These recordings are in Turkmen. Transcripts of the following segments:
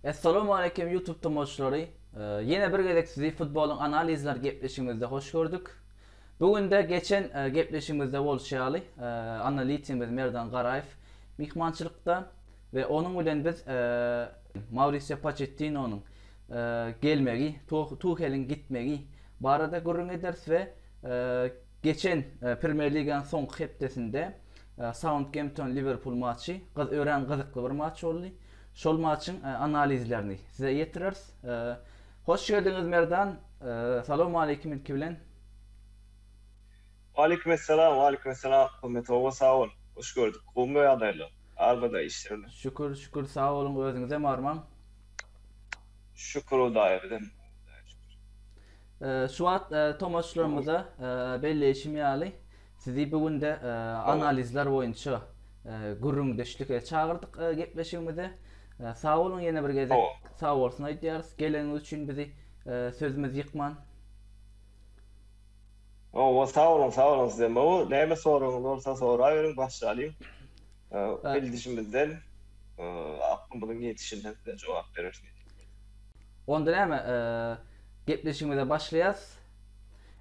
Assalamu alaykum YouTube tomaşçylary. Ee, Ýene bir gezek sizi futbolyň analizler gepleşigimizde hoş gördük. Bu günde geçen e, gepleşigimizde bolşy ýaly, e, analitikimiz Merdan Garaýew myhmançylykda We onuň bilen biz Maurizio Pochettinonyň gelmegi, Tuheliň gitmegi barada gürrüň ederis we geçen Premýer Liganyň soňky hepdesinde Saundgempton Liwerpul matçy örän gyzykly bir matç boldy. Şol matçyň analizlerini size ýetireris. Hoş geldiňiz Merdan. Salowmaleýkim ilki bilen. Waleýkimessalam waleýkimessalam Hümmet oba sag bol hoş gördük gowmy ýagdaýlar arbada işlerem. Şükür şükür sag boluň özüňizem barmaň. Şükür hudaýa bizem hudaýa şükür. Şu wagt tomaşyçylarymyza belleýşim ýaly sizi bu günde analizler boýunça gürrüňdeşlige çagyrdyk gepleşigimize sag boluň ýene bir gezek sag bolsun aýdýarys geleniňiz üçin bizi sözümizi ýykman. Owo sag boluň sag boluň sizem gowy näme soragyňyz bolsa soraberiň başlalyň bildişimizden aklymyzyň ýetişinden size jogap bereris neçe bolsa. Onda näme gepleşigimize başlaýas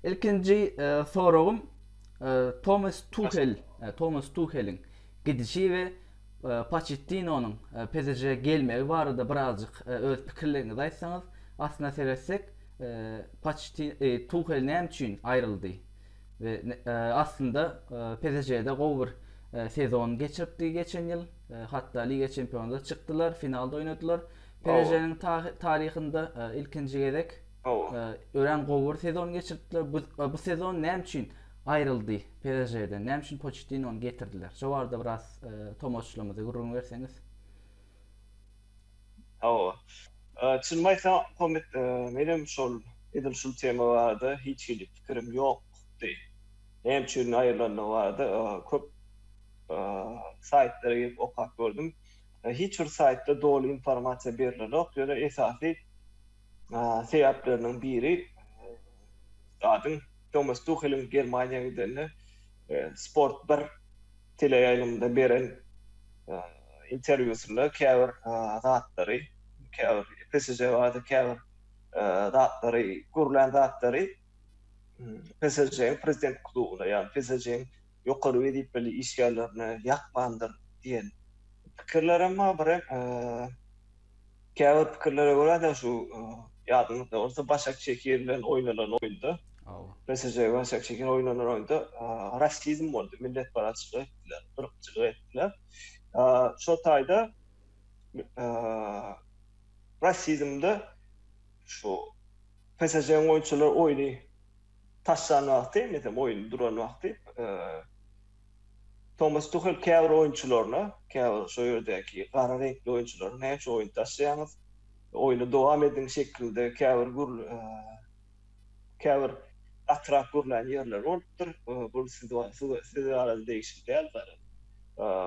ilkinji soragym Tomas Tuhel Tomas Tuheliň gidişi we Poçettinonyň PSŽ-e gelmegi barada birazjyk öz pikirleriňizi aýtsaňyz. Aslyna seretsek, Tuhel näme üçin aýryldy we aslynda PSŽ-de gowy bir sezon geçiripdi geçen ýyl. Hatda Liga çempionada çykdylar, finalda oýnadylar. PSŽ-niň taryhynda ilkinji gezek örän gowy bir sezon geçiripdiler. Bu sezon näme üçin Aýryldy PSŽ-den. Näme üçin Poçettinony getirdiler? Şo barada biraz tomaşçylarymyza gürrüň berseňiz. Hawa. Çynymy aýtsam, Komet, menem şol edil şul tema barada hiç hili pikirim ýokdy. Näme üçin aýrylandygy barada köp saýtlara girip okap gördüm. Hiç bir saýtda doly informasiýa berilenok. Ýöne esasy sebäpleriniň biri zadyň Tomas Tuheliň Germaniýa gidende Sport 1 teleýaýlymynda beren interwýusynda käbir zatlary, käbir PSŽ barada käbir zatlary, gürlän zatlary PSŽ-iň prezident klubuna, ýagny PSŽ-iň ýokary wezipeli işgärlerine ýakmandyr diýen pikirler hem bar. Birek käbir pikirlere görä-de şu ýadyňyzda bolsa Başak Şekir bilen oýnalan oýunda, PSG we Başak Şekir oýnanan oýunda rasizm boldy, milletparazçylyk etdiler, yrkçylyk etdiler. Şo taýda rasizmde şu PSG-niň oýunçylary oýny taşlan wagty, meselem, oýun duran wagty Tomas Tuhel käbir oýunçylaryna, käbir şo ýerdäki gara reňkli oýunçylara näçe oýun taşlaýaňyz, oýny dowam ediň şeklinde käbir gür käbir gatyrak gürlän ýerleri bolupdyr. Bu siz siz barada degişli däl, garaz,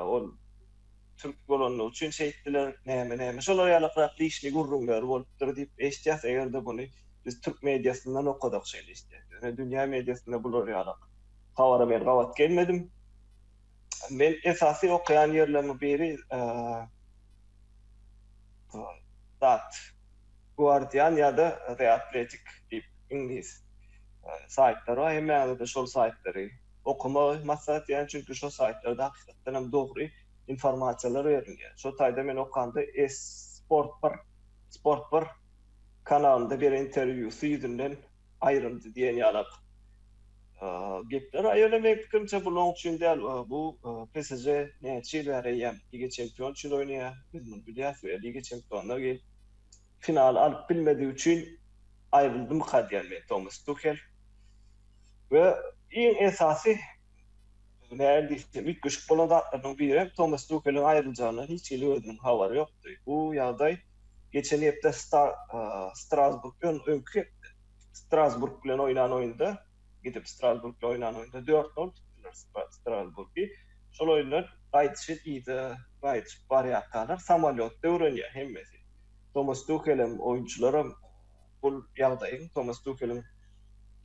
ol. türk bolanlygy üçin şeýtdiler, näme näme şolar ýaly ykrak dişli gürrüňleri bolupdyr diýip eşitýäs, eger-de buny biz türk mediasyndan okasak şeýle eşitýäs, ýöne dünýä mediasynda bular ýaly habara men gabat gelmedim. Men esasy okaýan ýerlerimiň biri dat Guardian ýa-da The Athletic diýip iňlis saýtlary bar, hemmäňize-de şol saýtlary okamagy maslahat berýän çünki şo saýtlarda hakykatdan hem dogry informasiýalar berilýär. Şo taýda men okanda Esport bir Sport bir kanalynda beren interwýusy ýüzünden aýryldy diýen ýalak gepler a ýöne meň pikirimçe bu long üçin däl bu PSJ näçe ýyl bäri eýýäm liga çempion üçin oýnaýar biz muny bilýäs we liga çempionlar gelip finaly alyp bilmedigi üçin aýryldymyka diýýän men Tomas Tuhel we iň esasy nähili diýsem üýtgeşik bolan zatlarynyň biri hem Tomas Tuheliň aýryljakyndan hiç hili özüniň habary ýokdy. Bu ýagdaý geçen hepde Strasburg ýon öňki hepde Strasburg bilen oýnan oýunda gidip Strasburg bilen oýnan oýunda dört gol tutdular Strasburgy. Şol oýunlar gaýdyşy yza gaýdyşyp barýarkalar samolýotda öwrenýär hemmesi. Tomas Tuhel hem, oýunçylar hem bul ýagdaýyň Tomas Tuheliň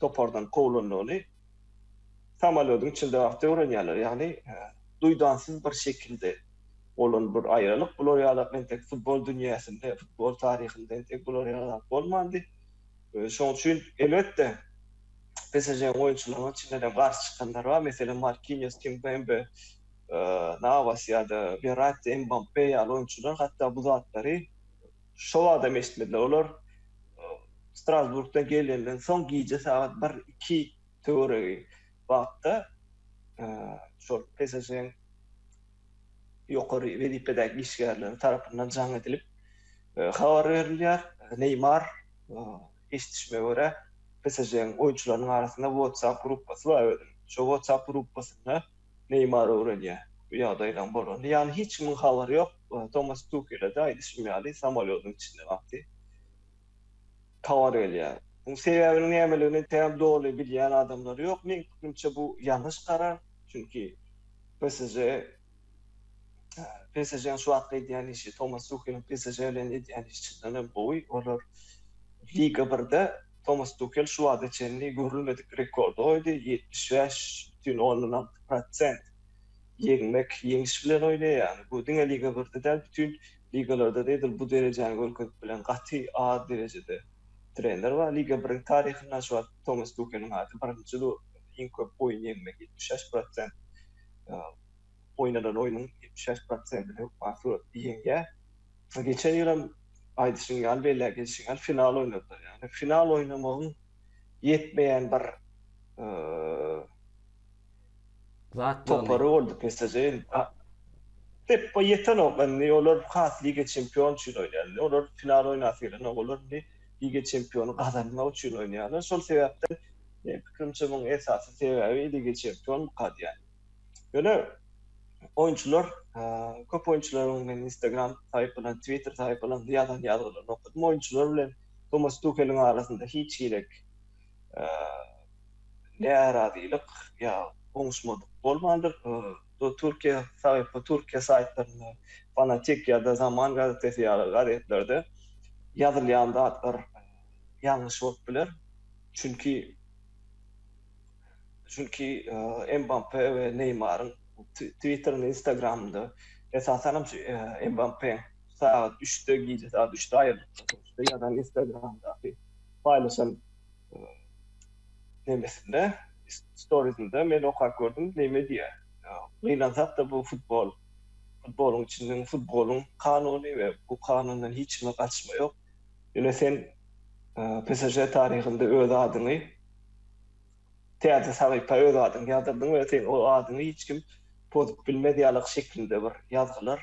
topardan kowlandygyny samolýodyň içinde wagty öwrenýärler. Ýagny duýdansyz bir şekilde bolan bir aýralyk. Bular ýaly entek futbol dünýäsinde, futbol taryhynda entek bular ýaly zat bolmandy. Şonuň üçin, elbetde, PSŽ-niň oýunçylarynyň içindenem garşy çykanlar bar. Meselem, Markinios, Kimpembe, Nawas ýa-da Werratti, Mbappe ýaly oýunçylar hatda bu zatlary şo wagtam eşitmediler. Olar Strasburgdan gelenden soň gije sagat bir-iki töweregi wagtda şol PSŽ-niň ýokary wezipedäki işgärleri tarapyndan jaň edilip habar berilýär. Neýmar, eşidişime görä, PSŽ-niň oýunçylarynyň arasynda WhatsApp gruppasy bar özüniň. Şo WhatsApp gruppasynda Neýmar öwrenýär bu ýagdaýlaryň bolanyny. Ýagny hiç kimiň habary ýok. Tomas Tuhele-de aýdyşym ýaly samolýodyň içinde wagty. towar gelýär. Muň sebäbiniň nämeligini tam doly bilýän adamlar ýok. Meň pikrimçe bu ýalňyş karar. Çünki PSJ PSJ-niň şu wagtky edýän işi Tomas Tuheliň PSJ bilen edýän işi çyndan hem gowy. Olar Liga birde Tomas Tuhel şu wagta çenli görülmedik rekordy goýdy, ýetmiş bäş bütin ondan alty prosent ýeňmek ýeňiş bilen oýnaýar. Bu diňe Liga birde däl, bütin Ligalarda edil bu derejäni görkezip bilen gaty az derejede trener bar. Liga biriň taryhynda şu wagt Tomas Tuheliň ady birinji durupdyr. Iň köp oýun ýeňmek, ýetmiş bäş prosent, oýnanan oýnuň ýetmiş bäş prosentini hökman suratda ýeňýär. Geçen ýyl hem aýdyşyň ýaly, belläp geçişiň ýaly final oýnadylar. Ýagny final oýnamagyň ýetmeýän bir Topary boldy PSJ. Peppa ýetenok indi olar has Liga Çempion üçin oýnaýar indi olar final oýnasy gelenok olar indi Liga Çempiony gazanmak üçin oýnaýarlar şol sebäpden meň pikirimçe muň esasy sebäbi Liga Çempion mukadýan ýöne oýunçylar köp oýunçylaryň men instagram saýpalarynda twitter saýpalarynda ýazan ýazgylaryny okadym oýunçylar bilen Tomas Tuheliň arasynda hiç girek närazylyk ýa goňuşmadyk bolmandyr. Bu Türkiýe saýtda, Türkiýe saýtlarynda, Fanatik ýa-da Zaman gazetesi ýaly gazetlerde ýazylýan zatlar ýalňyş bolup biler. Çünki çünki Mbappe we Neýmaryň Twitterinde, Instagramynda esasan hem şu Mbappe sagat üçde, gije sagat üçde aýyrlykda ýazan Instagramyndaky paýlaşan nemesinde, storiesinde men okap gördüm, neme diýýär. Gynansak-da bu futbol, futboluň içinden futboluň kanuny we bu kanundan hiç kime gaçma ýok. Ýöne sen PSŽ taryhynda öz adyňy täze sahypa öz adyňy ýazdyrdyn we seň o adyňy hiç kim pozup bilmez ýalyk şeklinde bir ýazgylar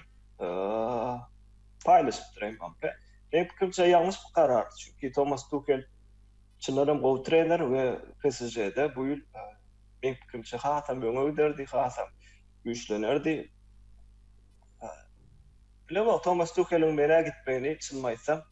paýlaşypdyr Mbappe. Meň pikirimçe ýalňyş bir karar, çünki Tomas Tuhel çyndan hem gowy trener we PSJ-de bu ýyl meň pikirimçe hasam öňe giderdi, hasam güýçlenerdi. Bilemok Tomas Tuheliň menä gitmegini çynymy aýtsam.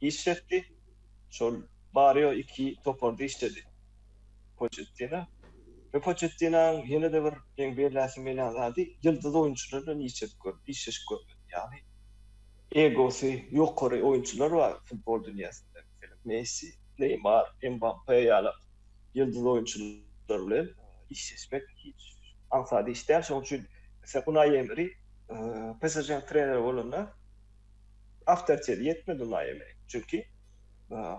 işletdi. Şol Mario iki toparda işledi Poçettino we Poçettinoň ýene-de bir meň belläsim gelýän zady ýyldyz oýunçylar bilen işledip görmedi, işleşip görmedi. Ýagny egosy ýokary oýunçylar bar futbol dünýäsinde. Meselem Messi, Neýmar, Mbappe ýaly ýyldyz oýunçylar bilen işleşmek hiç aňsat iş däl. Şonuň üçin Unai Emeri PSŽ-niň treneri bolanda, awtoriteti ýetmedi Unai Emeriň. Çünki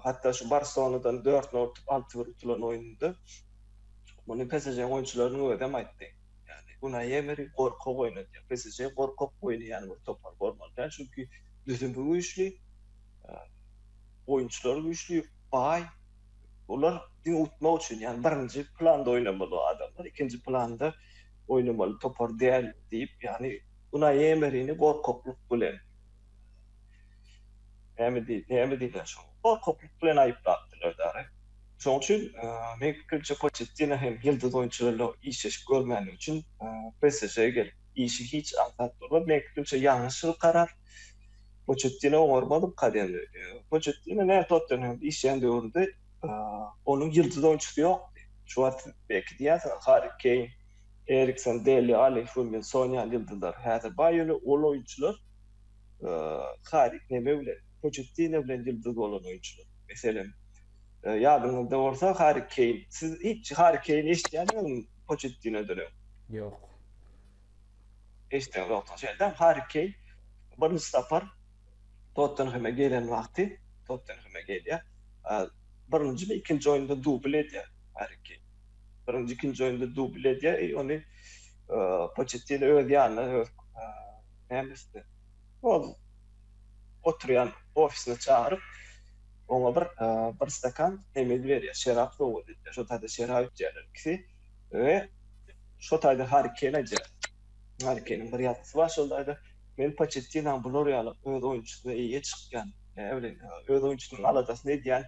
hatda şu Barselonadan dört nol utup, alty bir utulan oýnunda muny PSŽ-niň oýunçylarynyň özem aýtdy. Ýagny Unai Emeri gorkak oýnadýar. PSŽ gorkak oýnaýan bir topar bolmaly däl. Çünki düzümi güýçli, oýunçylary güýçli, baý. Olar diňe utmak üçin, ýagny birinji planda oýnamaly o adamlar, ikinji planda oýnamaly topar däl diýip, ýagny Günä emerini gorkaklyk bilen, näme diý, näme diýler şoň, gorkaklyk bilen aýyplapdylar dagy. Şoň üçin, meň pikirimçe, Poçettino hem ýyldyz oýunçy bilen işleşip görmänligi üçin PSJ-e gelip, işi hiç aňsat bolmaz. Meň pikirimçe, ýalňyşdyr karar. Poçettino oňarmalyka däldi. Poçettino näme Tottenhemde işleýän döwründe onuň ýyldyz oýunçysy ýokdy. Şu wagt siz belki diýersiňiz, Harri Keýn, Eriksen, Deli Alli, Heung-min Son ýaly ýyldyzlar häzir baý, ýöne ol oýunçylar Kari, neme bilen, Poçettino bilen ýyldyz bolan oýunçylar. Meselem, ýadyňyzda bolsa Harri Keýn. Siz hiç Harri Keýni eşidýärdiňizmi Poçettinodan öň? Ýok. Eşideňizokdyr. Şeýle-de Harri Keýn birinji sapar Tottenheme gelen wagty, Tottenheme gelýär, birinjimi, ikinji oýunda dubl edýär Harri Keýn. birinji, ikinji oýunda dubl edýär i ony Poçettino öz ýanyna, öz nämesine, ol oturýan ofisine çagyryp, oňa bir bir stakan nemeli berýär, şerap sowgat edýär. Şo taýda şerap içýärler ikisi we şo taýda Harri Keýn aýdýar. Harri Keýniň bir ýazgysy bar şol taýda, Men Poçettinaň bular ýaly öz oýunçysyna eýe çykýan, öz oýunçysynyň aladasyny edýän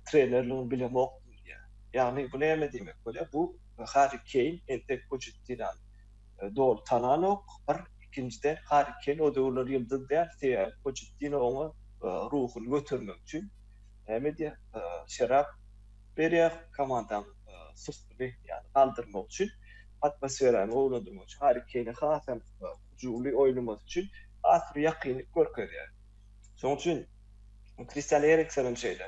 trenerligini bilemokdym. edilýär. Ýagny bu näme diýmek bolýar? Bu Harri Keýn entek Poçettinony doly tananok, bir, ikinjiden Harri Keýn o döwürler ýyldyz däl, sebäbi Poçettino oňa ruhuny götermek üçin näme edýär, şerap berýär, komandanyň syhtyny ýagny galdyrmak üçin, atmosferany gowulandyrmak üçin, Harri Keýne has hem hyjuwly oýnamasy üçin has bir ýakynlyk görkezýär. Şonuň üçin Kristian Eriksonam şeýle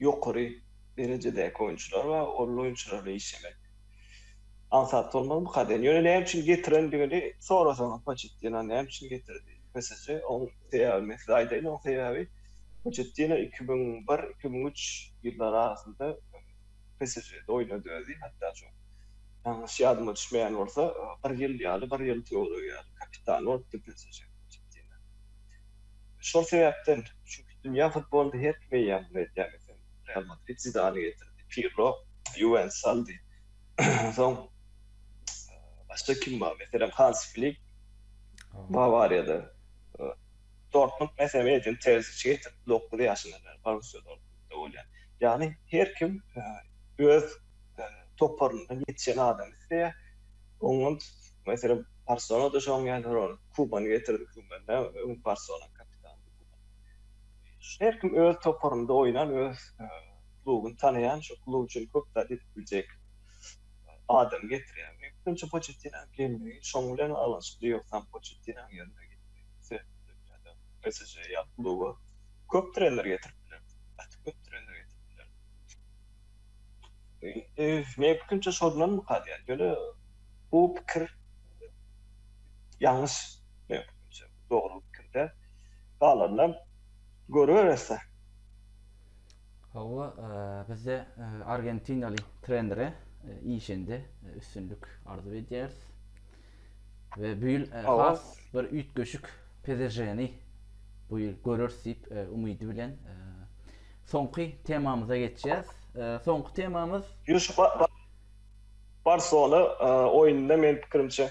ýokary derejedäki oýunçylar we ol oýunçylar bilen işlemek aňsat bolmaz bu kazyýetiň. Ýöne näme üçin getirendigini sorasaňyz Poçettino näme üçin getirdi? PSJ oň sebäbini men size aýdaýyn. Oň sebäbi Poçettino iki müň bir, iki müň üç ýyllary arasynda PSJ-de oýnady özi. Hatda şu ýalňyş ýadyma düşmeýän bolsa bir ýyl ýaly, bir ýyl töweregi ýaly kapitany bolupdy PSJ-niň Poçettino. Şol sebäpden, çünki Dünýä futbolynda her kim eýýäm muny edýär. Meselem, Real Madrid Zidany getirdi, Pirlo Ýuwentus aldy. Soň başga kim bar? Meselem, Hans Flik Bawariýada, Dortmund meselem Edin Terziçi getirdi, dokuz ýaşyndan bäri Borussiýa Dortmundda bolýar. Ýagny her kim öz toparyndan ýetişen adamy isleýär. Oňa meselem Barselona-da şoň ýaly Kubany getirdi, Kuban Barselona kapitany. Her kim öz toparynda oýnan, öz klubuny tanaýan, şol klub üçin köp zat edip biljek adamy getirýär. Meňçe, Poçettinoň gelmegi şoň bilen baglanyşykly, ýogsam Poçettinoň ýerine geçse, PSJ ýaly kluba köp trener getirip biler, gaty köp trener getirip biler. Indi meň pikirimçe şondanmyka diýýän. Ýöne bu pikir ýalňyş meň pikirimçe. dogry pikirde galandan görüberese. Hawa bizde argentinaly trenere işinde üstünlik arzuw edýäris. We bu ýyl has bir üýtgeşik PSŽ-ni bu ýyl göreris diýip umydy bilen soňky temamyza geçýäs. Soňky temamyz Barcelona oýnunda men pikirimçe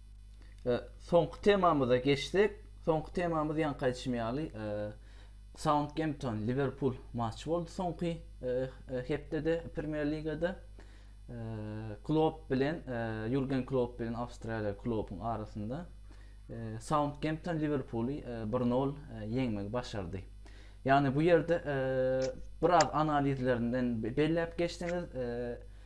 Soňky temamyza geçsek, soňky temamyz ýaňky aýdyşym ýaly Saundgempton Liwerpul matçy boldy soňky hepdede Premýer ligada. Klopp bilen Jurgen Klopp bilen Awstriýaly Kloppyň arasynda Saundgempton Liwerpuly 1-0 ýeňmegi başardy. Ýagny bu ýerde biraz analizlerinden belläp geçseňiz,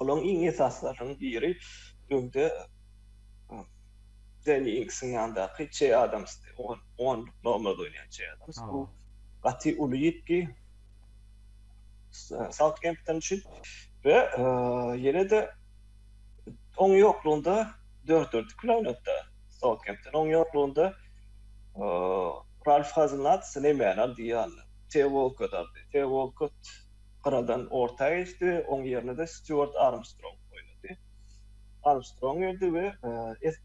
Olaryň iň esasylarynyň biri öňde Deni Inksiň ýanyndaky Çe Adams, on, on nomer oýnaýan Çe Adams. Bu gaty uly ýitgi Sautgempton üçin we ýene-de oň ýoklugynda dört-dörtlük bilen oýnatdy Sautgempton. Oň ýoklugynda Ralf Haznat, Sleýman Aldiýan, Teo Walkot aldy. Teo Walkot Gyradan orta geçdi we oň ýerine-de Stýuart Armstrong oýnady. Armstrong girdi we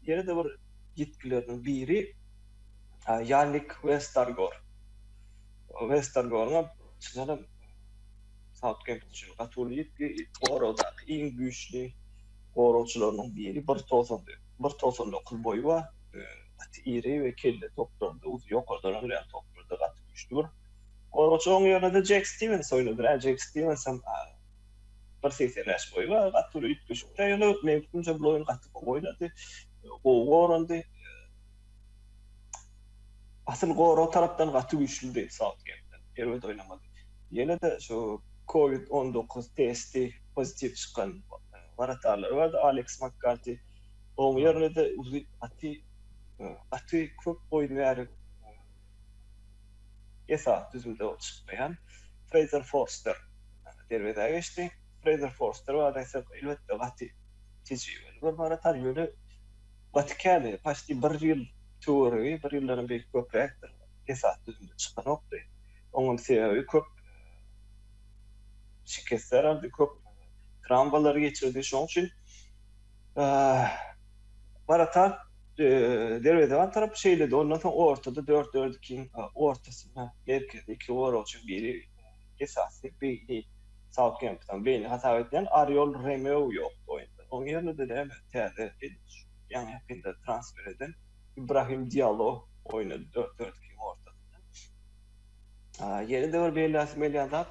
ýene-de bir ýitgileriniň biri Ýannik Westergor. Westergoryňam çynaram Sautgempton üçin gaty uly ýitgi, goragdaky iň güýçli goragçylarynyň biri, bir togsan dokuz boýy bar, gaty iri we kelle toplardy, uzy ýokardan urýan toplarda gaty güýçli bir Goragçy oň ýerine-de Jek Stiwens oýnadyr. Ä Jek Stiwensem bir segsen bäş boýy bar, gaty bir üýtgeşik-de ýöne men pikrimçe bul oýun gaty gowy oýnady. Gowy gorandy. Asyl gorag tarapdan gaty güýçlüdi Sautgempton. Erbet oýnamady. Ýene-de şu kowid on dokuz testi pozitiw çykan wratarylar bardy, Aleks Makkarti. Oň ýerine-de uly gaty gaty köp boýun bäri Esasy düzümde ol çykmaýan Freýzer Forster derwezä geçdi. Freýzer Forster barada aýtsak, elbetde, gaty tejribeli bir wrataž, ýöne gaty käni, paçti bir ýyl töweregi, bir ýyldanam belki köpräkdir, esasy düzümde çykanokdy. Oňam sebäbi köp şikesler aldy, köp trawmalary geçirdi. Şonuň üçin Warakat derwezeban tarapy şeýledi, ondan soň ortada dört dördikiň ortasynda merkezde iki goragçy, biri esasy beýni Sautgempton beýni hasap edilýän Oriol Remeu ýokdy oýunda. Onuň ýerine döneýän täze ýaňy ýakynda transfer eden Ibrahim Diallo oýnady dört dördikiň ortasynda. Ýene-de bir belläsim gelýän zat,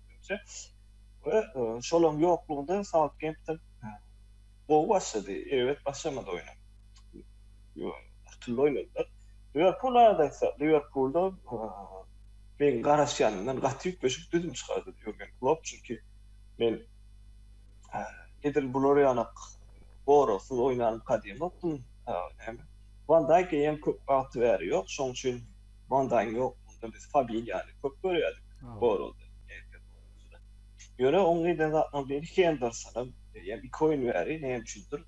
Menimçe, we şolaryň ýoklugynda Sautgempton gowy başlady, erbet başlamady oýna. Akylly oýnadylar. Liwerpul barada aýtsak, Liwerpulda meň garaşýanymdan gaty üýtgeşik düzüm çykardy Ýurgen Klopp, çünki men edil bular ýalyk goragsyz oýnanyny kadýemokdym. Näme, Wan Daýk eýýäm köp wagty bäri ýok, şonuň üçin Mandaýyň ýoklugynda biz familiýany köp görýärdik forumda. Ýöne oň eden zatlarynyň biri Hendersonam ýa iki oýun bäri näme üçindir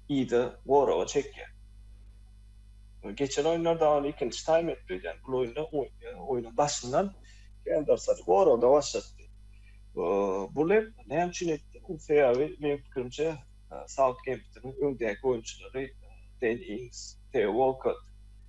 yza goraga çekýär. Geçen oýunlarda ony ikinji taým edip öýdýän. Bu oýunda oýnuň başyndan Hendersony goragda başlatdy. Bu lep näme üçin etdi? Bu sebäbi meň pikirimçe Sautgemptonyň öňdäki oýunçylary Den Ings, Teo Walkott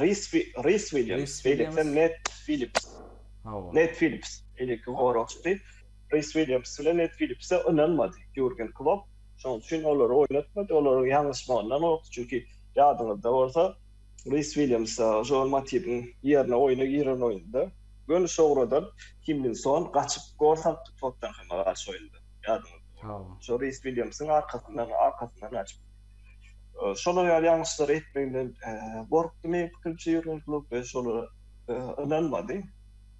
Ris Ris Williams, Williams, Ned Phillips. Hawa. Ned Phillips, eleki goragçy. Ris Williams bilen Ned Phillips ynanmady. Jürgen Klopp şonuň üçin olary oýnatmady. Olaryň ýalňyşmagyndan gorkdy, çünki ýadyňyzda bolsa, Ris Williams Joel Matibiň ýerine oýna giren oýunda göni şogradan Kimminson gaçyp gol salpdy Tottenhama garşy oýunda. Ýadyňyzda bolsa. Hawa. Şo Ris Williamsyň arkasyndan, arkasyndan gaçyp. şolar ýaly ýalňyşlary etmeginden gorkdy meň pikirimçe Ýurgen Klopp we şolara ynanmady.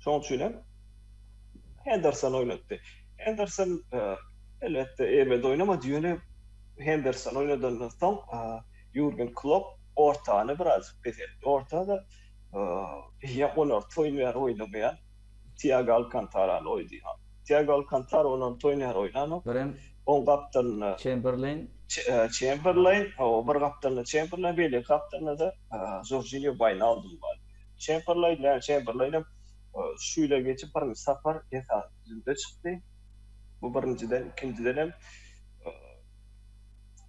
Şonuň üçin hem Henderson oýnatdy. Henderson elbetde erbet oýnamady, ýöne Henderson oýnadandan soň Ýurgen Klopp ortany biraz peseltdi. Orta-da ýa onarty oýun ýa-da oýnamaýan Tiago Alkantarany oýdy. Tiago Alkantara onuň toýuny her oýnanok. Birem Oň gapdalynda Çemberleýn. Çemberleýn, hawa, bir gapdalynda Çemberleýn, beýleki gapdalynda-da Jorjinýo Waýnaldum bar. Çemberleýn, ýa Çemberleýnem şu ýyla geçip birinji sapar esasy düzümde çykdy. Bu birinjiden, ikinjidenem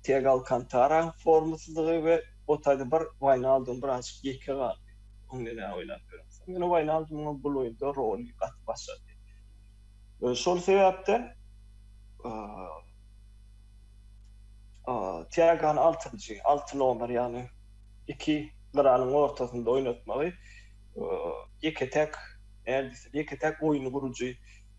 Tiago Alkantaraň formasyzlygy we otady bir Waýnaldum birazjyk ýeke galdy. Onda nä oýlap ýörensoň, ýöne Waýnaldumyň bul oýunda roly gaty başgady. Şol sebäpden Tiagony altynjy, alty nomer, ýagny iki gyralyň ortasynda oýnatmagy ýeke-täk, nädip diýsem, ýeke-täk oýun gurujy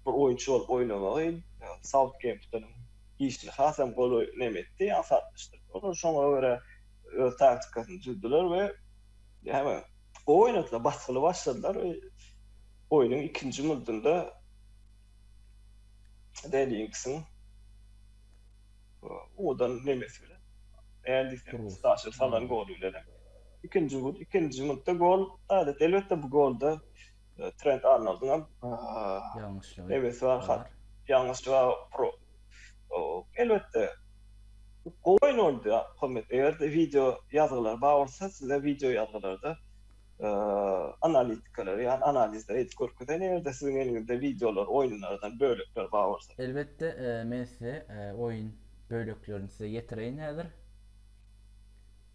bir oýunçy bolup oýnamagy Sautgemptonyň işli hasam gowy näme etdi, aňsatlaşdyrdy. Olar şoňa görä öz taktikasyny düzdüler we heme gowy oýnadylar, basgyly başladylar we oýnuň ikinji murdunda Deliňksiň owadan nemesi bilen, näme diýsem, Staşa salan goly bilen hem ikinji murda gol, elbetde bu golda Trent Arnoldyň hem ýalňyşlygy nebesi bar hat ýalňyşlyga pro elbetde gowy oýun boldy Ahmet eger-de wideo ýazgylar bar bolsa size wideo ýazgylarda analitikleri ýa analizleri edip görkezeýin eger-de siziň eliňizde wideolar oýunlardan bölekler bar bolsa. Elbetde men size oýun böleklerini size ýetireýin häzir.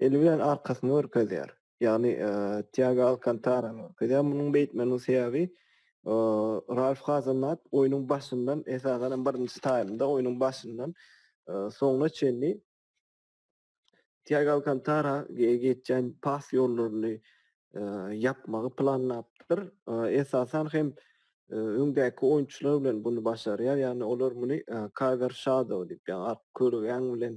eli bilen arkasyny görkezýär. Ýagny Tiago Alkantarany görkezýär. Munuň beýtmeginiň sebäbi Ralf Hazenhat oýnuň başyndan, esasan hem birinji taýmda oýnuň başyndan soňuna çenli Tiago Alkantara geçýän pas ýollaryny ýapmagy planlapdyr. Esasan hem öňdäki oýunçylar bilen bunu başarýar. Ýagny olar muny cover shadow diýip, ýagny ark körügäň bilen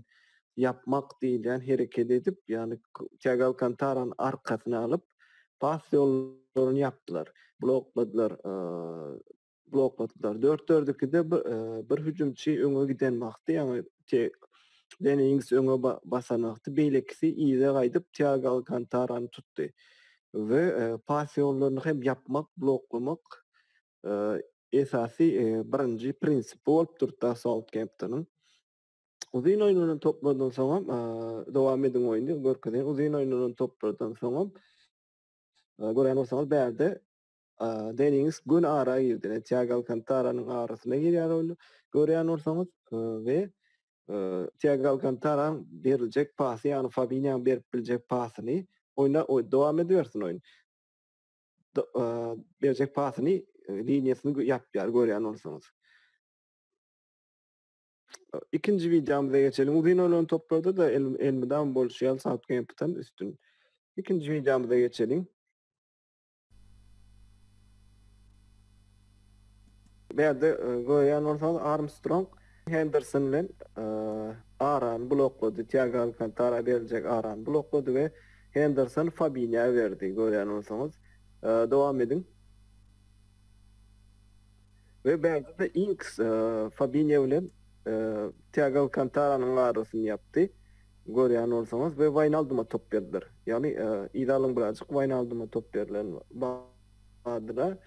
ýapmak diýilýän hereket edip, ýagny Tiago Alkantarany arkasyna alyp, pas ýollaryny ýapdylar, blokladylar blokladylar. Dört-dördükide bir, e, bir hüjümçi öňe giden wagty, ýagny te Deni Ings öňe basan wagty beýlekisi yza gaýdyp Tiago Alkantarany tutdy we e, pas ýollaryny hem ýapmak, bloklamak e, esasy e, birinji prinsipi bolup durdy Sautgemptonyň. Uzyn oýnanan toplardan soň hem e, dowam ediň oýny görkezýän uzyn oýnanan toplardan soň hem e, görýän bolsaňyz bärde Deniňiz göni ara girdi. Ine, Tiago Alkantaranyň arasyna girýär ol. Görýän bolsaňyz we Tiago Alkantaranyň beriljek pasy, ýagny Fabinýanyň berip biljek pasyny oýna dowam edibersin oýun. Berjek pasyny liniýasyny ýapýar görýän bolsaňyz. Ikinji wideomyza geçelim. Uzyn oýlan toplarda-da elmydam bolşy ýaly Sautgempton üstün. Ikinji wideomyza geçelim. Bärde görýän bolsaňyz Armstrong Henderson bilen arany bloklady, Tiago Alkantara beriljek arany bloklady we Henderson Fabinýa berdi görýän bolsaňyz. Dowam ediň. We bärde-de Inks Fabinio bilen Tiago Alkantaranyň arasyny ýapdy, görýän bolsaňyz, we Waýnalduma top berdiler. Ýagny yzalyň birazjyk Waýnalduma top berlen bardyr-a.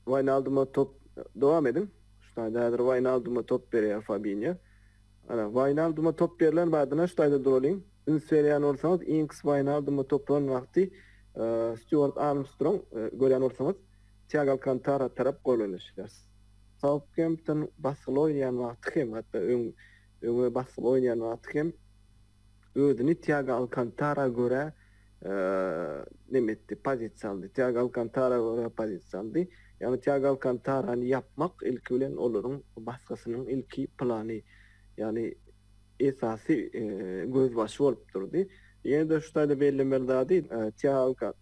Waýnalduma top, dowam ediň. Şu taýda häzir Waýnalduma top berýär Fabinio. Ana, Waýnalduma top berlen bardyna şu taýda duralyň. Üns berýän bolsaňyz, Inks Waýnaldumy toplan wagty Stýuart Armstrong görýän bolsaňyz, Tiago Alkantara tarap golanyşýar. Sautgempton basgyly oýnaýan wagty hem, hatda öňe basgyly oýnaýan wagty hem özüni Tiago Alkantara görä neme etdi, pozisiýa aldy. Tiago Alkantara görä pozisiýa aldy. Ýagny Tiago Alkantarany ýapmak ilki bilen olaryň basgysynyň ilki plany. Ýagny. esasy gözbaşy bolup durdy. Ýene-de şu taýda bellemeli zady, Tealka,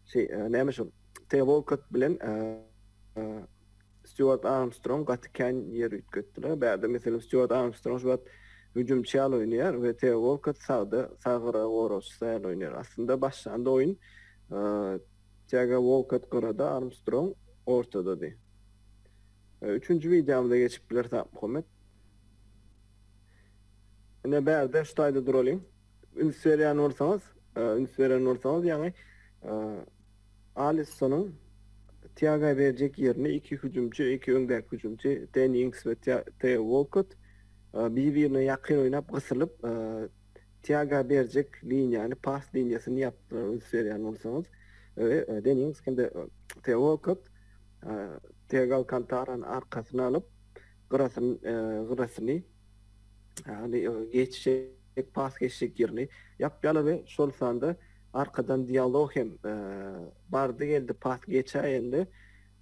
şi, näme şol, T. Wolkott bilen Stýuart Armstrong gaty kän ýer üýtgetdiler. Bärde, meselem, Stýuart Armstrong şu wagt hüjümçi ýaly oýnaýar we T. Wolkott sagda, sag gyra goragçysy ýaly oýnaýar. Aslynda başlanda oýun Tiago Wolkott gyrada, Armstrong ortadady. Üçünji wideomyza geçip bileris, Akmuhammet. Ine bärde şu taýda duralyň. Üns berýän bolsaňyz, üns beren bolsaňyz ýaňy Alissonyň Tiaga berjek ýerini iki hüjümçi, iki öňdäki hüjümçi Deni Ings we Teo Wolkott bir-birine ýakyn oýnap gysylyp Tiaga berjek liniýany, pas liniýasyny ýapdylar üns berýän bolsaňyz. Deni Ings hem-de Teo Wolkott Tiago Alkantarany arkasyna alyp gyrasyn gyrasyny, ýagny geçjek, pas geçjek ýerini ýapýarlar we şol sanda arkadan dialog hem bardy-geldi pas geçäýende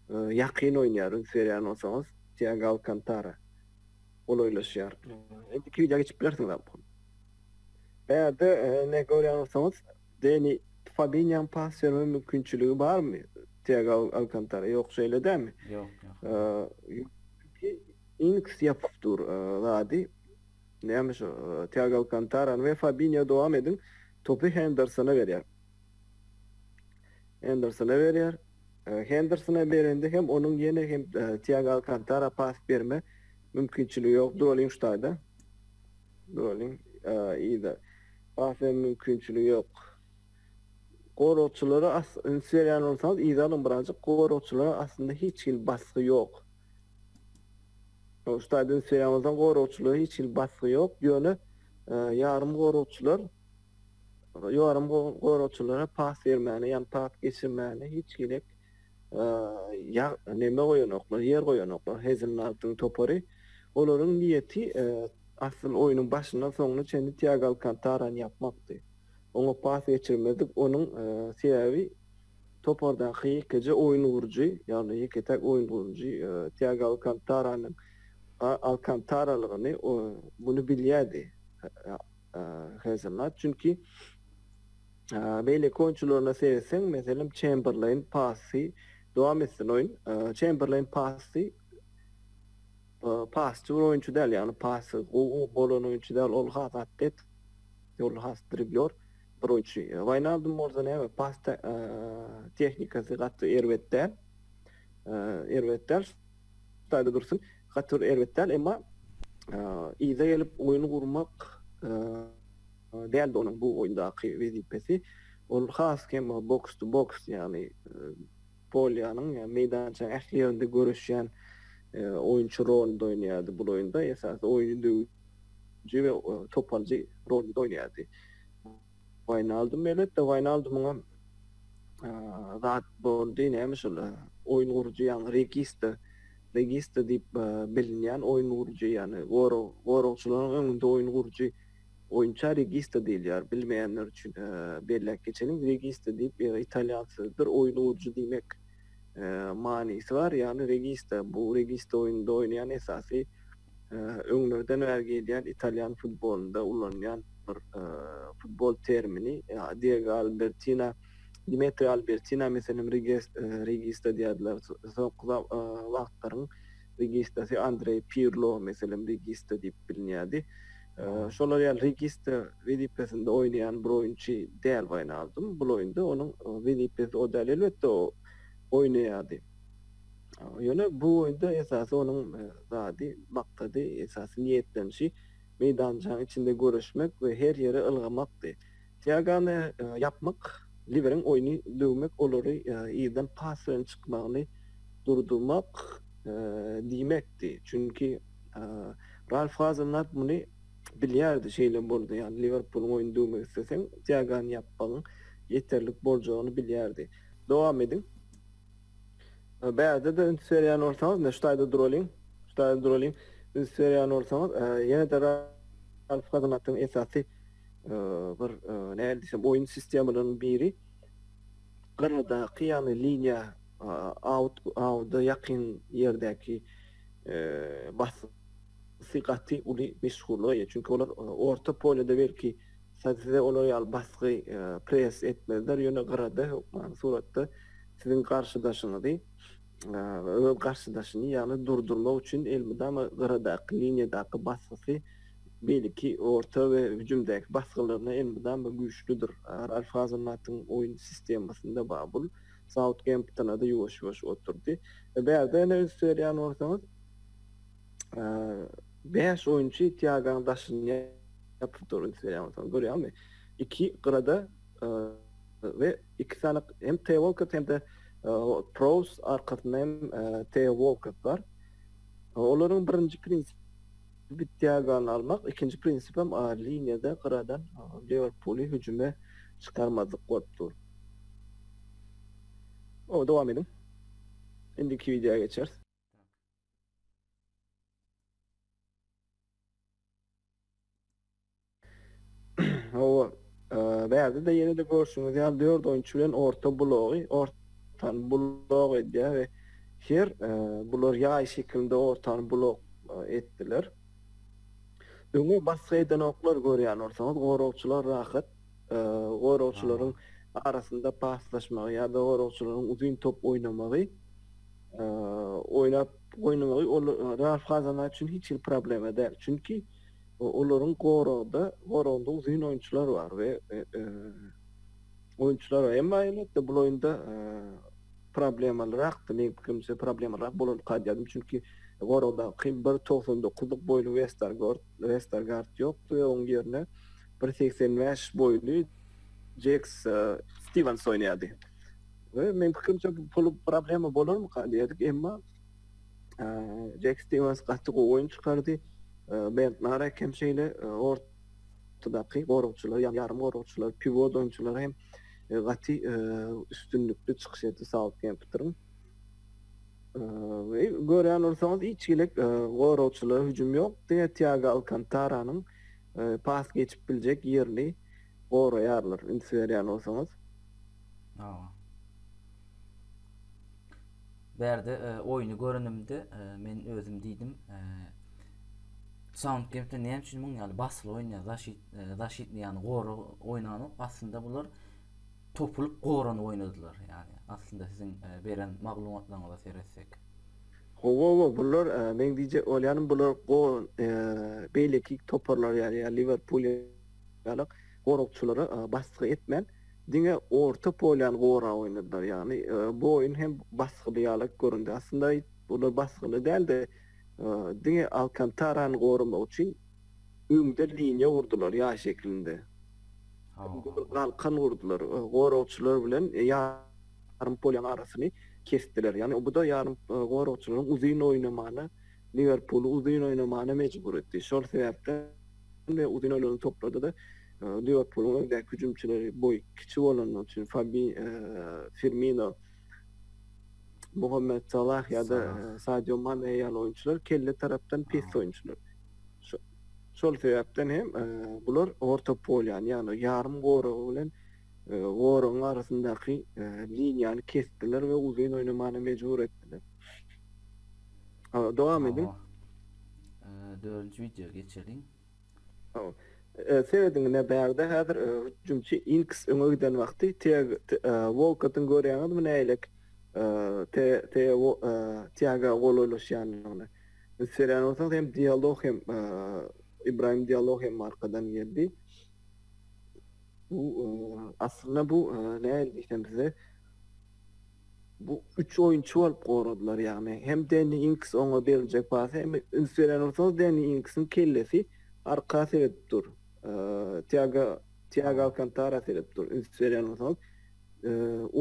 ýakyn oýnaýar, üns berýär bolsaňyz, Tiago Alkantara golaýlaşýar. Indiki wideoýa geçip bilersiňiz, Abdul. Bärde ne görýän bolsaňyz, Deni Fabinýoň pas berme mümkinçiligi barmy? Tiago Alkantara ýok şeýle dälmi? Ýok, ýok. Inks ýapyp dur zady. Näme şo Tiago Alkantarany we Fabinýo dowam ediň. Topy Hendersona berýär. Hendersona berýär. Hendersona berende hem onuň ýene hem Tiago Alkantara pas berme mümkinçiligi ýok. Duralýyň şu taýda. Nolin yza basmaya mümkinçiligi yok. Goragçylara as üns beryan bolsaňyz yza alyň birazjyk goragçylara aslynda hiç hili basgy yok. Şu tayda üns beryan bolsaň goragçylara hiç hili basgy yok yöne yarym goragçylar yarym goragçylara pas bermane yani pas geçirmane hiç gerek Ýag, neme goýanoklar, ýer goýanoklar, Hezil Naltyň topary. Olaryň niýeti asyl oýnuň başyndan soňuna çenli Tiago Alkantarany ýapmakdy. Oňa pas geçirmedik, onuň sebäbi topardaky ýekeje oýun gurujy, ýagny ýeke-täk oýun gurujy Tiago Alkantaranyň Alkantaralygyny muny bilýärdi Hezil Nalt, çünki Beýleki oýunçylaryna seretseň, meselem, Çemberleýn, Passy, dowam etsin oýun. Çemberleýn, Passy, pasçy bir oýunçy däl, ýagny passy gowy bolan oýunçy däl, ol has atlet, ol has driblýor bir oýunçy. Waýnaldum bolsa näme, pas tehnikasy gaty erbet däl, erbet däl, şaýda dursun, gaty bir erbet däl, emma yza gelip oýun gurmak, Däldi onuň bu oýundaky wezipesi. Ol has hem box to box, ýagny polýanyň, ýagny meýdançanyň ähli ýerinde göreşýän oýunçy rolunda oýnaýardy. Bul oýunda esasy oýny döwüji we top alyjy rolunda oýnaýardy. Waýnaldum elbetde, Waýnaldumyňam zat boldy, näme şol oýun gurujy, ýagny regista, regista diýip bilinýän oýun gurujy, ýagny goragçylaryň öňünde oýun gurujy. Oýunça Regista diýilýär. Bilmeýänler üçin belläp geçeliň. Regista diýip italýan sözüdir. Oýun urujy diýmek manysy bar. Ýagny Regista bu Regista oýnunda oýnaýan esasy öňlerden bäri gelýän italýan futbolynda ulanylýan bir futbol termini. Diego Albertina, Dimetri Albertina meselem Regista diýerdiler. Soňky wagtlaryň Registasy Andreý Pirlo, meselem, regista diýip bilinýärdi. Şolar ýaly regista wezipesinde oýnaýan bir oýunçy däl Waýnaldum. Bul oýunda onuň wezipesi o däl. Elbetde, o oýnaýardy. Ýöne bu oýunda esasy onuň zady, maksady, esasy niýetlenişi meýdançaň içinde göreşmek we her ýere ylgamakdy. Ýagany ýapmak Liweriň oýny döwmek olary yzdan pas bilen çykmagyny durdurmak diýmekdi. Çünki Ralf Hazenhut muny bilýärdi, şeýle boldy. Ýagny Liwerpulyň oýny döwmek isleseň, Tiagony ýapmagyň ýeterlik boljagyny bilýärdi. Dowam ediň. Bärde-de üns berýän bolsaňyz, ine şu taýda duraliň. Şu taýda duraliň. Üns berýän bolsaňyz, ýene-de Ralf Hazenhutyň esasy bir nädip diýsem oýun sistemalarynyň biri gyradaky ýagny liniýa out awda ýakyn ýerdäki basyp sy gaty uly meşhurlyga eýe çünki olar orta polýada belki size olar ýaly basgy press etmezler ýöne gyrada hökmany suratda siziň garşydaşyňyzy öz garşydaşyny ýagny durdurmak üçin elmydama gyradaky liniýadaky basgysy Beýleki orta we hüjümdäki basgylaryna elmydam we güýçlüdir. Ralf Hazenhutyň oýun sistemasynda Babul Sautgemptona-da ýuwaş-ýuwaş oturdy. Bärde ýene üns berýän bolsaňyz, bäş oýunçy Tiagoň daşyny ýapyp dur, üns berýän bolsaňyz, görýäňmi? Iki gyrada we iki sany hem Teo Walkott hem-de Prowz, arkasynda hem Teo Walkott bar. Olaryň birinji prinsipi. Bitiagany almak, ikinji prinsipem ar liniýada gyradan Liwerpuly hüjüme çykarmazlyk bolup dur. Oba dowam ediň. Indiki wideoya geçeris. Hawa, bärde-de ýene-de görşüňiz ýaly dört oýunçy bilen orta blogy ortany blok edýär we her bular ýaý şekilinde ortany blok etdiler. Öňe basgy edenoklar görýän bolsaňyz, goragçylar rahat goragçylaryň arasynda paslaşmagy ýa-da goragçylaryň uzyn top oýnamagy oýnap goýnmagy ol Real Fazana üçin hiç hili problema däl. Çünki Olaryň goragda goragynda uzyn oýunçylar bar we oýunçylar bar. Emma elbetde bul oýunda problemalyrakdy. Meň pikirimçe problemalyrak bolar kadýardym. Çünki goragdaky bir togsan dokuzlyk boýly Westergord Westergaard ýokdy we oň ýerine bir segsen bäş boýly Jeks Stiwens oýnaýardy. We meň pikirimçe bul problema bolarmyka diýerdik. Emma Jack Stevens gaty gowy oýun çykardy. Bernd Narek hem şeýle ortadaky goragçylar, ýa ýarym goragçylar, pivot oýunçylar hem gaty üstünlikli çykyş etdi Sautgemptonyň. We görýän bolsaňyz, hiç hili goragçylara hüjüm ýok. Diňe Tiago Alkantaranyň pas geçip biljek ýerini goraýarlar. Üns berýän bolsaňyz. Hawa. Bärde oýny görenimde men özüm diýdim Sautgempton näme üçin muň ýaly basyly oýnaýar zaşit zaşitni ýagny gorag oýnanok aslynda bular topulyp goranyp oýnadylar ýagny aslynda siziň beren maglumatlaryňyza seretsek. Howowo bular meň diýjek bolýanym bular go beýleki toparlar ýaly ýa Liwerpul ýaly goragçylara basgy etmän, diňe orta polýany gorap oýnadylar. Ýagny bu oýun hem basgyly ýaly göründi. Aslynda olar basgyly däl-de, diňe Alkantarany goramak üçin öňde liniýa gurdular, ýaý şeklinde. Öňde bir galkan gurdular. Goragçylar bilen ýarym polýanyň arasyny kesdiler. Ýagny bu-da ýarym goragçylaryň uzyn oýnamagyna, Liwerpuly uzyn oýnamagyna mejbur etdi. Şol sebäpden. we uzynalaryny toplady-da, Liwerpulyň öňdäki hüjümçileri boýy kiçi bolanlar üçin Fabi, Firmino, Mohamed Salah ýa-da Sadio Mane ýaly oýunçylar kelle tarapdan pes oýunçylar. Şol sebäpden hem bular orta polýany, ýagny ýarym goragy bilen goragyň arasyndaky liniýany kesdiler we uzyn oýnamaga mejbur etdiler. Ha, dowam ediň. Hawa. Eee, Dördünji wideoya geçeliň. Hawa. Eee, Serediň ine bärde häzir eee, hüjümçi Inks öňe giden wagty Tiag, T- eee, Wolkottyň görýäňizmi nägilek eee, T, T, Wo, eee, Tiaga golaýlaşýanyny. Biz serýän bolsaňyz hem Diallo hem eee, Ibrahim Diallo hem arkadan geldi. Bu eee, aslynda bu eee, nähili diýsem size Bu üç oýunçy bolup goradylar, ýagny hem Denni Ings oňa beriljek pasy hem üns berýän bolsaňyz Denni Ingsiň kellesi arka seredip dur, Tiago Tiago Alkantara seredip dur, üns berýän bolsaňyz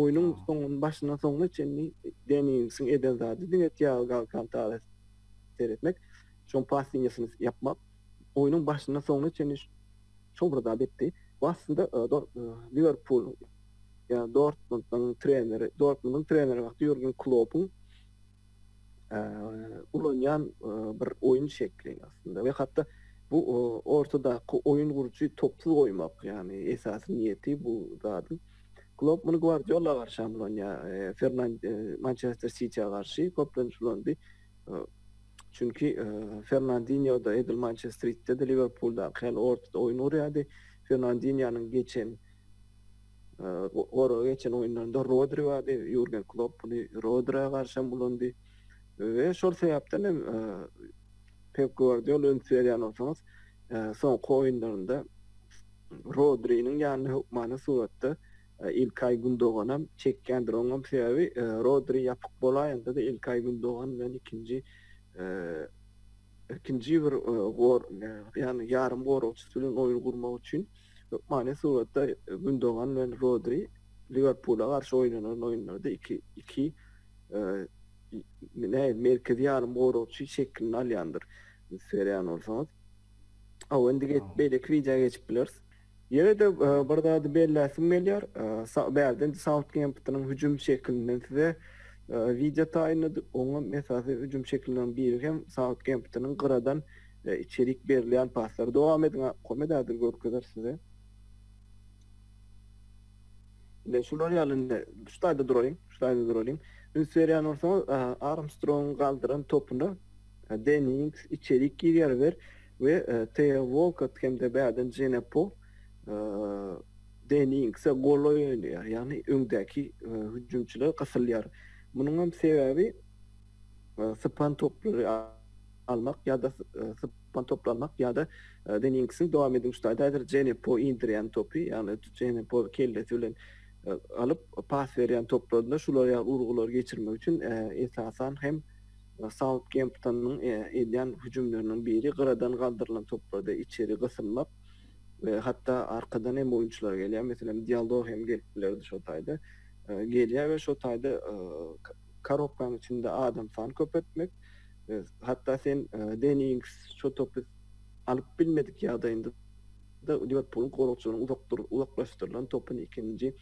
oýnuň soňuny başyndan soňuna çenli Denni Ingsiň eden zady diňe Tiago Alkantara seretmek, şoň pas liniýasyny ýapmak, oýnuň başyndan soňuna çenli şol bir zady etdi. Bu aslynda Liwerpul Ýa Dortmundyň treneri, Dortmundyň treneri wagty Ýurgen Kloppuň ulanýan bir oýun şekli aslynda we hatda bu ortadaky oýun gurujy topsuz goýmak, ýagny esasy niýeti bu zadyň. Klopp muny Gwardiola garşy hem ulanýar, Fernand Mançester Sitiä garşy köplenç ulandy. Çünki Fernandinýo-da edil Mançester Sitide-de, Liwerpuldaky ýaly ortada oýun gurýardy. Fernandinýonyň geçen Gora geçen oýunlarynda Rodri bardy, Ýurgen Klopp muny Rodrä garşam ulandy we şol sebäpden hem Pep Gwardiol üns berýän bolsaňyz, soňky oýunlarynda Rodriniň ýanyna hökmany suratda Ilkaý Gündoganam çekýändir. Oňam sebäbi Rodri ýapyk bolaýanda-da Ilkaý Gündogan bilen ikinji ikinji bir ýarym goragçysy bilen oýun gurmak üçin Hökmany suratda Gündogan bilen Rodri Liwerpula garşy oýnanan oýunlarda iki iki nähili merkezi ýarym goragçy şeklini alýandyr siz sereýän bolsaňyz. Hawa indi geçip beýleki wideo geçip bileris. Ýene-de bir zady belläsim gelýär. Bärde indi Sautgemptonyň hüjüm şekilinden size wideo taýynladyk. Oňa esasy hüjüm şekilleriniň biri hem Sautgemptonyň gyradan Içerik berilýän paslar dowam ediň komet häzir görkezer size. Ine şular ýaly indi şu taýda duraýyň, şu taýda duralyň. Üns berýän bolsaňyz Armstrongyň galdyran topuna Dennings, içerik girýär wer we Teo Walkott hem-de bärden Dženepo Denningse golaý oýnaýar. Ýagny öňdäki hüjümçiler gysylýar. Munuň hem sebäbi sypan toplary almak ýa-da sypan toply almak ýa-da Deniňksiň dowam ediň üstü aýda häzir Jenepo indirýän topy ýagny Jenepo kellesi bilen alyp pas berýän toplarynda şular ýaly urgulary geçirmek üçin esasan hem Sautgemptonyň edýän hüjümleriniň biri gyradan galdyrylan toplarda içeri gysylmak we hatda arkadan hem oýunçylar gelýär meselem Diallo hem gelip bilerdi şo taýda gelýär we şo taýda Korobkaň içinde adam sany köpeltmek, hatda sen Deniýings Çotopis alyp bilmedik ýagdaýynda-da Liwerpulyň goragçylarynyň uzakdyr uzaklaşdyrylan topyny ikinji,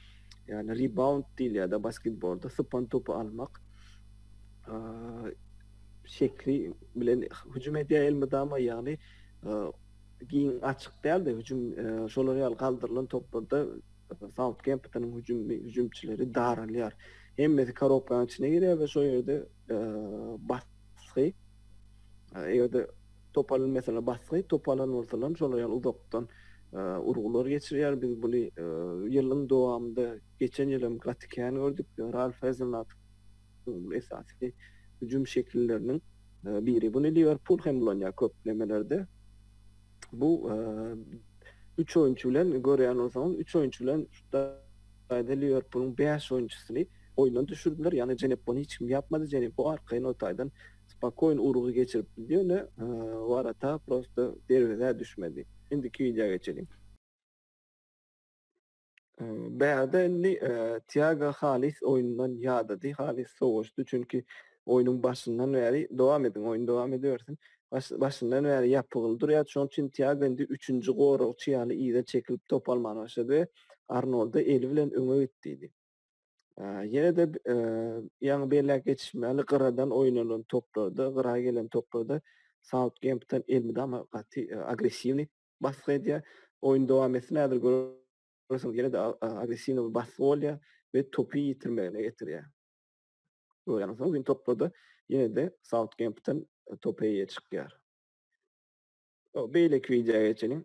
ýagny rebound diýilýär-de basketbolda, sypan topy almak, şekli bilen hüjüm edýär elmydama, ýagny giň açyk däl-de hüjüm şolar ýaly galdyrylan toplarda Sautgemptonyň hüjümçileri daralýar. Hemmesi korobkanyň içine girýär we şol ýerde basgy, eger-de top alan meselem basgy, top alan bolsalar şol aýal uzakdan urgular geçirýär. Biz buny ýylyň dowamynda, geçen ýyl hem gaty kän gördük. Ralf Hasenhutt esasy hüjüm şekilleriniň biri. Buny Liwerpul hem ulanýar köplemelerde. Bu üç oýunçy bilen görýän bolsaňyz, üç oýunçy bilen şutaýda Liwerpulyň bäş oýunçysyny oýundan düşürdiler. Ýagny Jenepony hiç kim ýapmady. Jenepo arkaýyn o taýdan spokoýn urgy geçirip gitdi, ýöne Warata prosto derwezä düşmedi. Indiki wideoa geçeliň. Bärde indi Tiago halys oýundan ýadady, halys sowaşdy, çünki oýnuň başyndan bäri dowam ediň, oýun dowam edibersin. Başyndan bäri ýapygyl durýar, şonuň üçin Tiago indi üçünji goragçy ýaly yza çekilip top almana başlady we Arnolda eli bilen öňe git diýdi. Ýene-de ýaňy belläp geçişim ýaly gyradan oýun alan toplarda, gyra gelen toplarda Sautgempton elmydama gaty agressiwnyý basgy edýär. Oýun dowam etsin häzir görersiňiz ýene-de agressiwnyý bir basgy bolýar we topy ýitirmegine getirýär. Görýäňizmi bu gün toplarda ýene-de Sautgempton topa eýe çykýar. Beýleki wideoya geçeliň.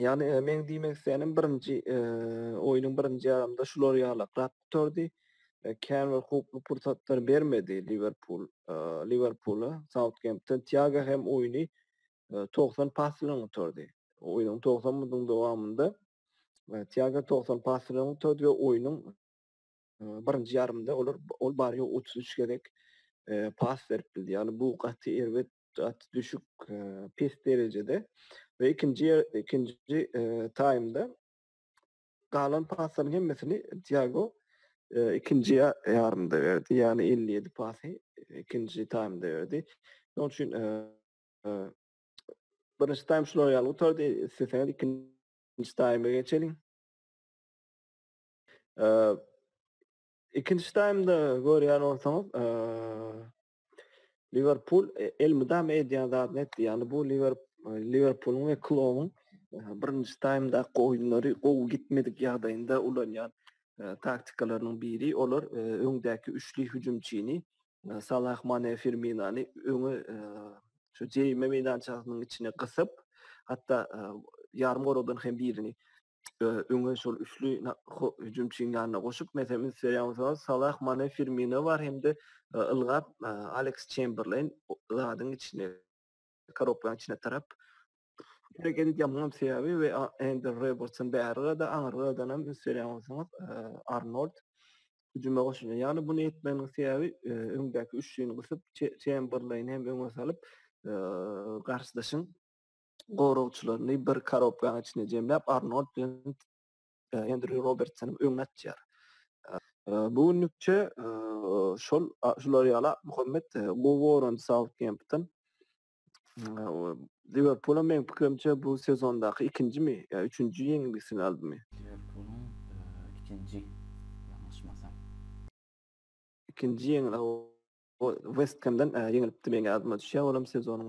Yani e, men diýmek isteýänim birinji e, oýnuň birinji ýarymda şular ýalakrak gutardy. E, kän bir hukukly pursatlar bermedi Liverpool e, Liverpoola. Southampton Tiago hem oýny e, 90 pas bilen gutardy. Oýnuň 90 minutynyň dowamynda e, Tiago 90 pas bilen gutardy we oýnuň e, birinji ýarymda olar ol bary 33 gezek e, pas berip bildi. Yani bu gaty erbet gaty düşük, e, pes derejede we ikinji ýer- ikinji e, taýmda galan paslaryň hemmesini Tiago e, ikinji ýa- ýarymda berdi. Ýagny 57 pasy e, ikinji taýmda berdi. Şonuň üçin e, e, birinji taým şular ýaly gutardy. Isleseňiz ikinji taýma geçeliň. E, ikinji taýmda görýän bolsaňyz, e, Liwerpul elmydama edýän zadyny etdi. Ýagny bu Liwerpulyň we Klobyň birinji taýmdaky oýunlary gowy gitmedik ýagdaýynda ulanýan taktikalarynyň biri. Olar öňdäki üçli hüjümçini Salah, Mane, Firminony öňe şu jerime meýdançasynyň içine gysyp, hatda ýarym goragdan hem birini öňe şol üçli hüjümçiniň ýanyna goşup, meselem, Sergio Salah, Mane, Firmino bar hem-de ylgap Aleks Çemberleýn zadyň içine, korobkaň içine tarap hereket edýär. Muňam sebäbi we Endi Robertson bärigada, aňyrgadan hem Sergio Arnold hüjüme goşulýar. Ýagny muny etmeginiň sebäbi öňdäki üçlini gysyp, Çemberleýni hem öňe salyp, garşydaşyň goragçylaryny bir korobkanyň içine jemläp, Arnold bilen Endrýu Robertsonyň öňüne atýar. Bu günlükçe şol şular ýaly Muhammet Goworan Sautgempton Liwerpula meň pikirimçe bu sezondaky ikinjimi ýa üçünji ýeňilgisini aldymy? Liwerpuluň ikinji ýalňyşmasam. Ikinji ýeňil West Hemden ýeňilipdi meň ýadyma düşýär olam sezonyň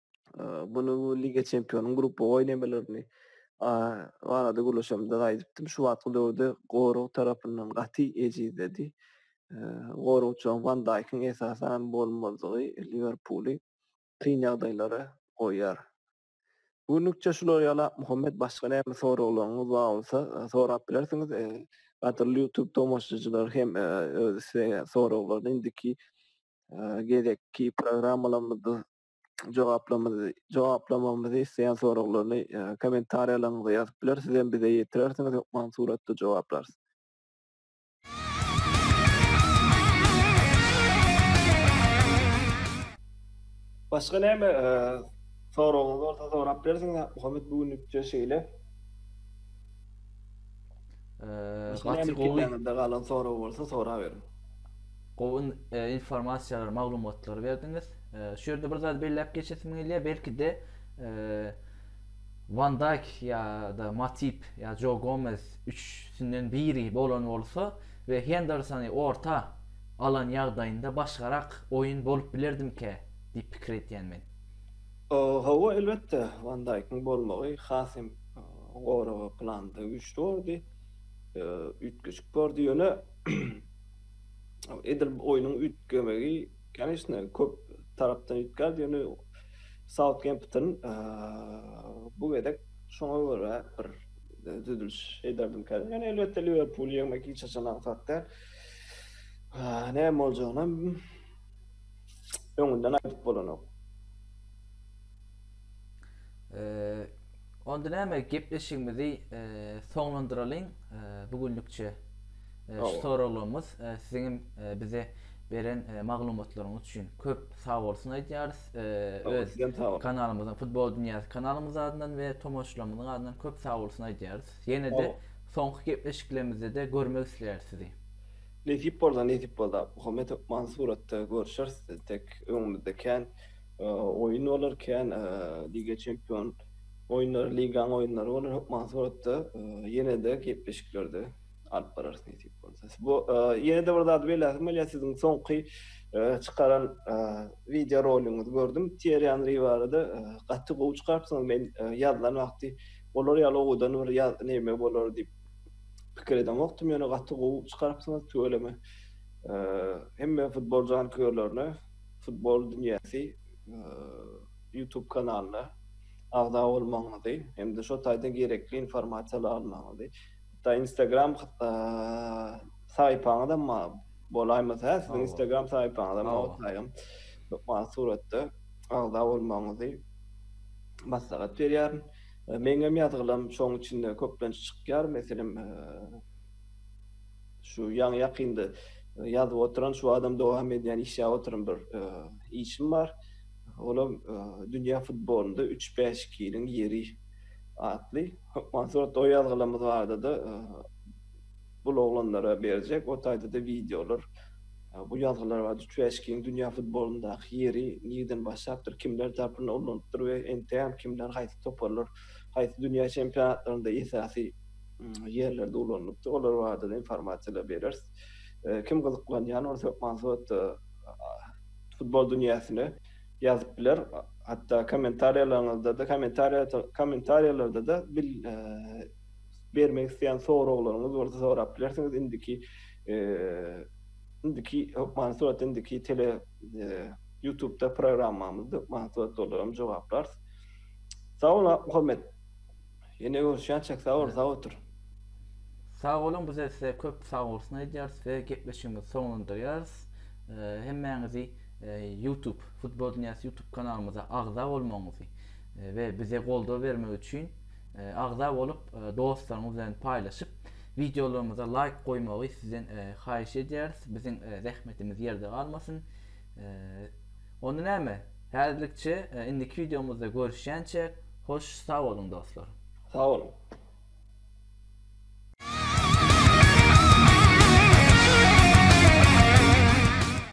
Muny bu Liga Çempionlarynyň grupba oýnamalaryny barada gürleşemde-de aýdypdym. Şu wagtky döwürde gorag tarapyndan gaty ejizledi. Goragçylaryň Wan Daýkyň esasan bolmazlygy Liwerpuly kyn ýagdaýlara goýýar. Bu günlükçe şular ýaly Akmuhammet başga näme soraglaryňyz bar bolsa sorap bilersiňiz. Gadyrly YouTube tomaşaçylar hem öz soraglaryny indiki gezekki programmalarymyzda jogaplamyzy jogaplamamyzy isleýän soraglaryny e, kommentariýalaryňyza ýazyp biler. Siz hem bize ýetirersiňiz, hökman suratda jogaplarys. Başga näme e, soragyňyz bolsa sorap bersiň, Muhammet bu günlükçe şeýle. Ee, Başga näme gaty gowy. pikirleriňizde galan sorag bolsa soraberiň. Gowy informasiýalary, maglumatlary berdiňiz. Şu ýerde bir zat belläp geçesim gelýär. Belki-de Van Dijk ýa-da Matip ýa Joe Gomez üçüsinden biri bolan bolsa we Hendersony orta alan ýagdaýynda başgarak oýun bolup bilerdimikä diýip pikir edýän men. Hawa, elbetde, Van Dijkiň bolmagy has hem goraga planda güýçli bordy, üýtgeşik bordy. Ýöne edil oýnuň üýtgemegi, koniçne, köp tarapdan üýtgärdi, ýöne Sautgempton bu gezek şoňa görä bir düzüliş ederdim kädin. Ýöne elbetde Liwerpul ýeňmek hiç haçan aňsat däl. Näme boljagyny öňünden aýdyp bolanok. Onda näme gepleşigimizi soňlandyralyň bu günlükçe. Şu soraglarymyz siziň hem bize beren maglumatlaryňyz üçin köp sag bolsun aýdýarys. Öz kanalymyzyň Futbol dünýäsi kanalymyz adyndan we tomaşaçylarymyzyň adyndan köp sag bolsun aýdýarys. Ýene-de soňky gepleşiklerimizde-de görmek isleýäris sizi. Nesip bolsa, nesip bolsa, Muhammedow Mansuratda görüşeris, tek öňümizde kän. oýun bolar, kän Liga Çempion oýunlary, Ligaň oýunlary bolar. Hökman suratda ýene-de gepleşiklerde alyp bararys nesip bolsa. Bu ýene-de bir zady belläsim gelýär, siziň soňky çykaran wideo roligiňizi gördüm. Tiýerri Henri barada gaty gowy çykarypsyňyz. Men ýazylan wagty olar ýaly owadan bir ýaz näme bolar diýip pikir edemokdym, ýöne gaty gowy çykarypsyňyz, tüweleme. Hemme futbol janköýerlerine Futbol dünýäsi YouTube kanalyna agza bolmagyňyzy hem-de şo taýdan gerekli informasiýa almagyňyzy, hatda Instagram saýpaňyz hem bolaýmasa, siziň Instagram saýpaňyz hem bolsaýam, hökman suratda agza bolmagyňyzy maslahat berýärin. Meň hem ýazgylarym şoň içinde köplenç çykýar, meselem, Şu ýaňy ýakynda ýazyp oturan şu adam dowam edýän işläp oturan bir işim bar. Olam dünýä futbolynda üç bäş ikiniň ýeri atly. Hökman surat o ýazgylarymyz barda-da bul oglanlara berjek o taýda-da wideolar. Bu ýazgylar barda üç bäş ikiniň dünýä futbolyndaky ýeri nireden başlapdyr, kimler tarpyndan ulanypdyr we entegem kimler haýsy toparlar haýsy dünýä çempionatlarynda esasy ýerlerde ulanylypdyr. Olar barada-da informasiýalar bereris. Kim gyzyklanýan bolsa, hökman suratda futbol dünýäsine ýazyp biler. Hatda kommentariýalaryňyzda-da, kommentariýalarda-da bil bermek isleýän soraglaryňyz bolsa sorap bilersiňiz. Indiki indiki hökman suratda indiki tele ýutubda programmamyzda hökman suratda olara jogaplarys. Sag bol, Muhammet. Ýene görüşýänçäk sag bol sag otur. Sag boluň bize size köp sag bolsun aýdýarys we gepleşigimizi soňlandyrýarys. Hemmäňizi YouTube Futbol Dünýäsi YouTube kanalymyza agza bolmagyňyzy we bize goldaw bermek üçin agza bolup dostlaryňyz bilen paýlaşyp wideolarymyza laýk goýmagy sizden haýyş edýäris. Biziň zähmetimiz ýerde galmasyn. Onda näme, häzirlikçe indiki wideomyzda görüşýänçäk, hoş sag boluň dostlar. Sag boluň.